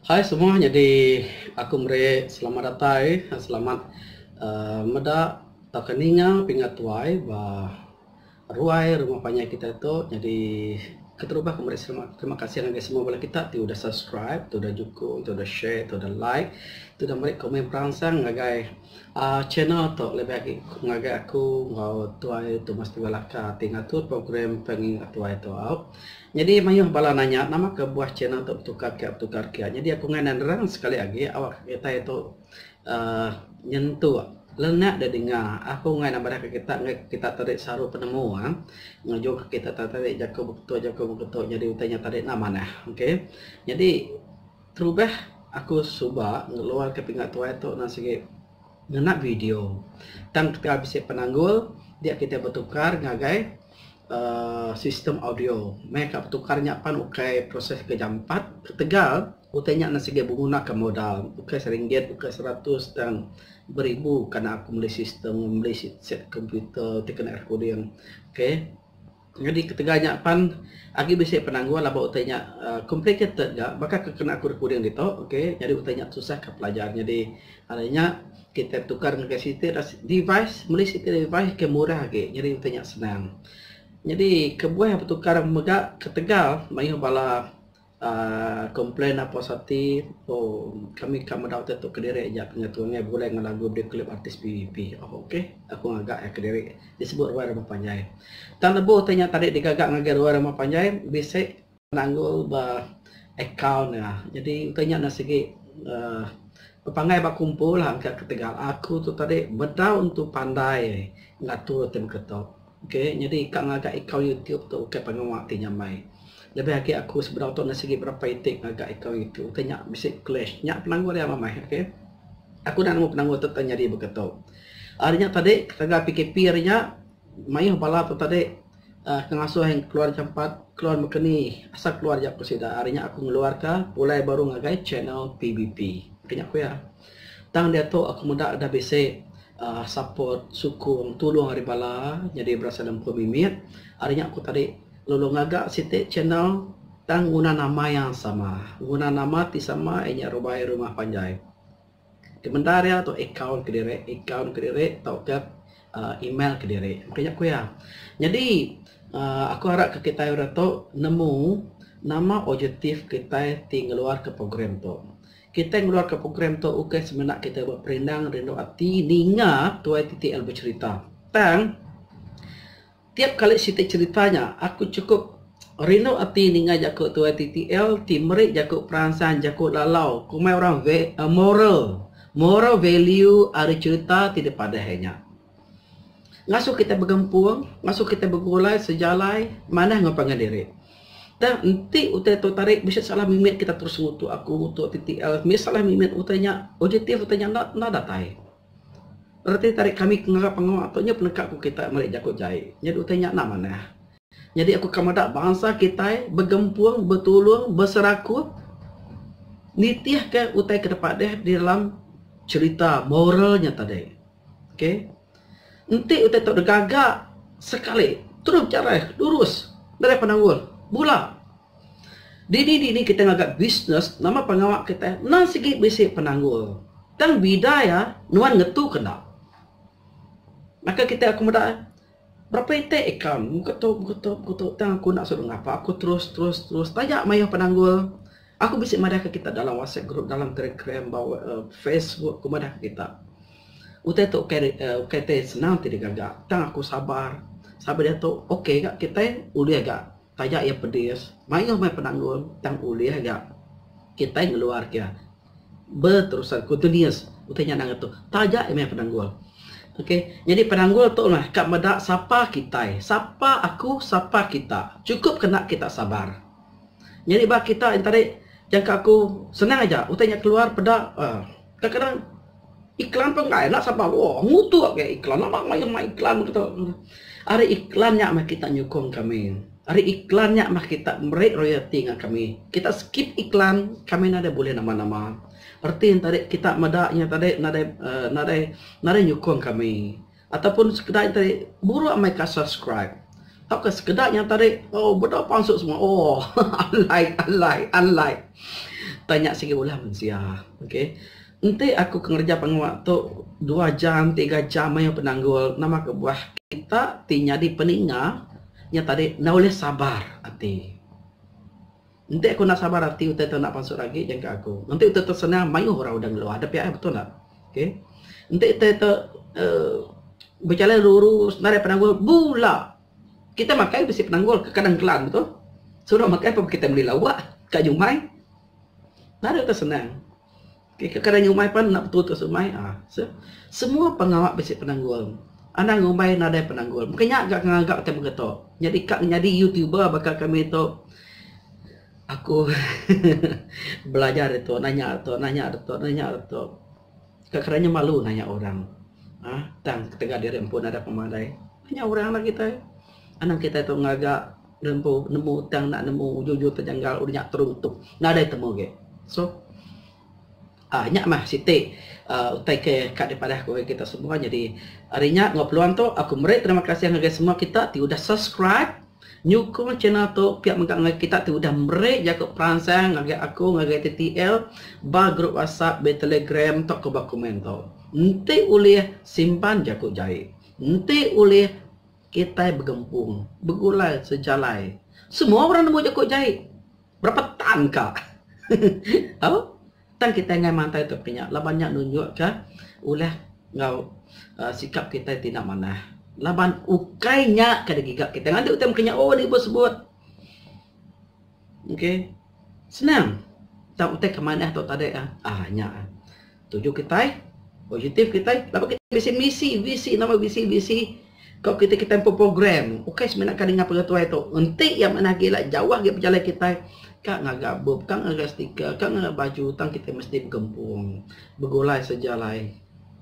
Hai semua nyadi aku meri selamat datai selamat uhh meda tauka ninga pinga tuai ba ruai rumah panjai kita tu nyadi keterubah aku meri selamat terima kasih ngagai semua bala kita ti udah subscribe ti udah nyukung ti udah share ti udah like ti udah meri komen peransang ngagai uhh channel tu lebih agi ngagai aku enggau tuai Thomas Tunggal Aka ti ngatur program Pengin Ngetuai tu. Nyadi mayuh bala nanya nama ka buah channel tu betukar kia betukar kia. Nyadi aku ngai nerang sekali agi awak kitai tu uhh nyentuk lenak da dinga aku ngai nambah ka kita ngai kita tadi saru penemu uhh ngejung ka kita tadi jaku beketuk jaku beketuk nyadi utai nya tadi enda manah okay. Nyadi terubah aku suba ngeluar ka pinga tuai tu nan sigi ngena video tang kita bisi penanggul dia kita betukar ngagai. Sistem audio mehka petukar nya pan ukai proses ke jampat ketegal utai nya enda siget benggunaka modal ukai seringgit ukai seratus tang beribu kan aku meli sistem meli set komputer ti kena recording okay nyadi ketegal nya pan agi bisi penanggul laban baka utai nya complicated ga baka ke kena aku recording ditu okay nyadi utai nya tusah ka pelajar nyadi. Ari nya kitai betukar ngagai siti device meli siti device ke murah agi nyadi enti nya senang. Nyadi kebuah betukar mega ketegal mayuh bala uhh komplain apo saja ti uhh kami ka meda utai tu kediri aja ngatu angai begulai enggau lagu video klip artis PVP uhh ok aku ngaga iya kediri disebut ruai rumah panjai. Tang lebuh ti nya tadi digaga ngagai ruai rumah panjai bisi. Nanggul ba akaun nya. Jadi enti nya enda sigi uhh bepanggai ba kumpul ha engka ketegal. Aku tu tadi bedau entu pandai ngatur ti meka tu. Okay jadi ka ngaga akaun youtube tu ukai pengawa ti nyamai. Lebih agi aku sebedau tu enda sigi berapa iti ngaga akaun youtube enti nya bisi clash. Nya penanggul iya meh okay. Aku enda nemu penanggul tu tau nyadi beka tu. Ari nya tadi ketegal PKP ari nya. Mayuh bala tu tadi ke ngasuh iya keluar jampat keluar baka ni asal keluar iya ku sida ari nya aku ngeluar ka pulai baru ngagai channel PBP ke nya ku iya. Tang diatu aku meda ida bisi uhh support sukung tulung ari bala nyadi berasai lempun aku mimit ari nya ku tadi lalu ngaga siti channel tang nguna nama yang sama nguna nama ti sama iya nya rubai rumah panjai. Kemendar iya tu akaun kediri, akaun kediri tauka uhh email kediri. Mungkin nya ku iya. Nyadi uhh aku harap ka kitai orang tu nemu nama objektif kitai ti ngeluarka program tu. Kitai ngeluarka program tu ukai semina kitai ba perindang rindu ati ninga tuai ti TL becherita. Tang. Tiap kali siti cerita nya aku chukup rindu ati ninga jaku tuai TTL ti meri jaku peransang jaku lalau komai orang moral moral value ari cerita ti dipadah iya nya. Ngasuh kita begempung ngasuh kita begulai sejalai manah enggau pangan diri. Tang enti utai tu tadi bisi salah mimit kita terus ngutuk aku ngutuk TTL mih salah mimit utai nya ujitif utai nya enda datai. Reti tarik kami ke ngarap pengawa tu nya peneka ku kitai meri jaku jai. Nyadi utai nya enda manah. Nyadi aku ka meda bansa kitai begempung, betulung, beserakup nitihka utai ke dep deh di dalam cherita moral nya tadi. Okay. Enti utai tu digaga sekali terus berjalan lurus. Nadai penanggul. Bula. Dini dini kitai ngaga bisnes nama pengawa kitai endang sigi bisi penanggul tang bida iya nuan ngetu ke enda. Baka kitai aku meda berapa itik akaun muka tu muka tu muka tu tang aku enda suruh ngapa aku terus terus terus taja mayuh penanggul aku bisi madahka kita dalam whatsapp group dalam telegram bala uhh facebook ku madahka kita. Utai tu ukai ukai ti senang ti digaga tang aku sabar sabar diatu okay ga kitai ulih ga. Taja iya pedis, mayuh meh penanggul tang ulih ga kitai ngeluar ke beterusan continuous utai nya anang atu. Taja iya meh penanggul. Okay, nyadi penanggul tu meh ka meda sapa kitai, sapa aku, sapa kita. Chukup kena kita sabar. Nyadi ba kita enti ari jangka aku senang aja utai nya keluar peda uhh. Kadang-kadang iklan pun enggai enda sabar lua mutu agei iklan enda mayuh mai iklan meh kita. Ari iklan nya meh kita nyukung kami. Ari iklan nya meh kita meri royalti ngagai kami. Kita skip iklan kami enda deh bulih nama-nama. Reti ne tadi kita meda inya tadi nadai nadai nadai nyukung kami. Ataupun sekeda nya tadi buruk amai ka subscribe tauka sekeda nya tadi oh bedau pansut semua oh alai alai alai tanya sigi ulah mensia okay enti aku ke ngereja pengawa tu dua jam tiga jam mayuh penanggul nama kebuah kita ti nyadi peninga nya tadi enda ulih sabar ati. Enti aku enda sabar ati utai tu enda pansut agi jangka aku. Enti utai tu senang mayuh orang udah ngelua. Ada pia eh betul enda? Okay. Enti utai tu uh, berjalan lurus narai penanggul bula. Kita makai besi penanggul ke kadang kelan betul. Suruh makai pun kita meli lawak kat nyumai. Narai utai senang. Ke ke kada ngumbai pan enda betul terus umbai a se semua pengawa bisi penanggul anang ngumbai nadai penanggul mungkin nya ga ngaga ke mega tu nyadi ka nyadi youtuber baka kami tu aku belajar ditu nanya ditu nanya ditu nanya ditu ka kada nya malu nanya orang a tang ketegal diri empu nadai pemadai nanya orang lah kitai anang kitai tu ngaga Nemu nemu tang enda nemu ujung-ujung terjanggal udah nya terung tuk. Nadai temu agi. So ah nya mah siti uh, utai ke ka dipadah ku kita semua. Jadi hari nya ngau peluang tu aku meri terima kasih ngagai semua kita ti udah subscribe nyukung channel tu pia mega ngagai kita ti udah meri jaku peransang ngagai aku ngagai TTL ba grup WhatsApp ba Telegram tu ko ba komen tu. Enti ulih simpan jaku jai. Enti ulih Kitai begempung, begulai sejalai. Semua orang nemu jaku jai. Berapa tan ka. Au? Tang kitai enggai mantai tauka nya laban nya nunjukka ulih enggau uhh sikap kitai ti enda manah. Laban ukai nya ke digiga kitai. Ngagai utai meka nya, oh ni bos sebut. Okay. Senang. Tang utai ke manah tu tadi ah. Ah nya. Tuju kitai, objektif kitai, laban kitai bisi misi, visi nama visi visi ko kitai kitai empu program. Ukai semina ka ninga pengetuai tu. Enti iya manah agi ila jauh agi pejalai kitai ka ngaga bup, ka ngaga stiker, ka ngaga baju tang kitai mesti begempung, begulai sejalai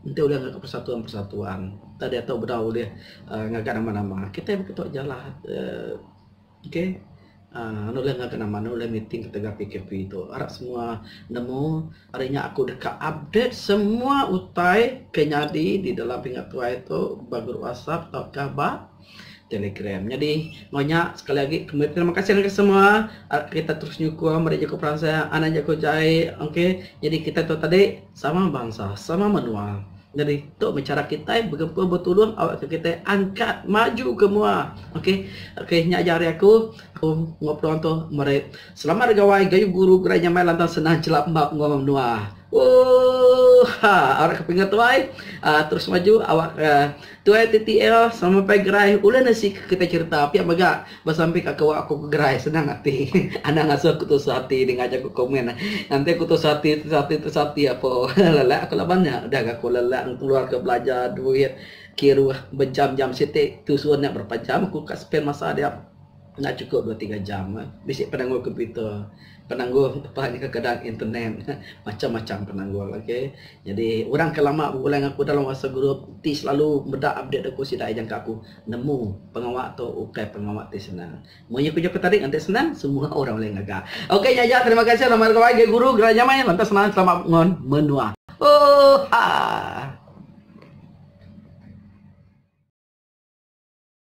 enti ulih ngaga persatuan persatuan. Tadi tu bedau ulih aaa ngaga nama nama. Kitai baka tu jalah aaa. Ok uhh anu ulih ngaga nama anu ulih meeting ketegal PKP tu arap semua nemu ari nya aku deka update semua utai ke nyadi di dalam pinga tuai tu ba group WhatsApp tauka ba Telegram. Nyadi meng nya sekali agi kembi terima kasih ngagai semua arap kita terus nyukung meri jaku peransang anak jaku jai ok nyadi kita tu tadi sama bansa sama menua. Nyadi tu meh chara kitai begempung betulung awakka kitai angkat maju ke mua. Ok ok nya aja ari aku aku enggau peluang tu meri selamat ari gawai gayu guru gerai nyamai lantang senang chelap embap enggau orang menua. Ooh ha arai ke pengetuai aaa terus maju awakka Tuai ti tia sama pai gerai ulih nasi ke kitai cherita pia mega besampi ka kewa aku ke gerai senang ati anang asu aku tusah ati denga jaku komen nganti ku tusah ati tusah ati tusah ati apo lelak aku laban nya udah ga ku lelak ngeluar ka belanja duit kiruh bejam jam siti tusun nya berapa jam aku ka spend masa dia. Enda chukup dua tiga jam. Bisi penanggul komputer, penanggul lebuh ni kekadang internet, macham-macham penanggul okey. Nyadi orang ke lama begulai enggau aku dalam WhatsApp group ti selalu meda update aku sida ejangka aku nemu pengawa tu ukai pengawa ti senang. Mun iya ku jaku tadi nganti senang semua orang ulih ngaga. Okey nya aja terima kasih nama gawai Gay Guru Gerai Nyamai lantas senang selamat bangun menua. Oohaa.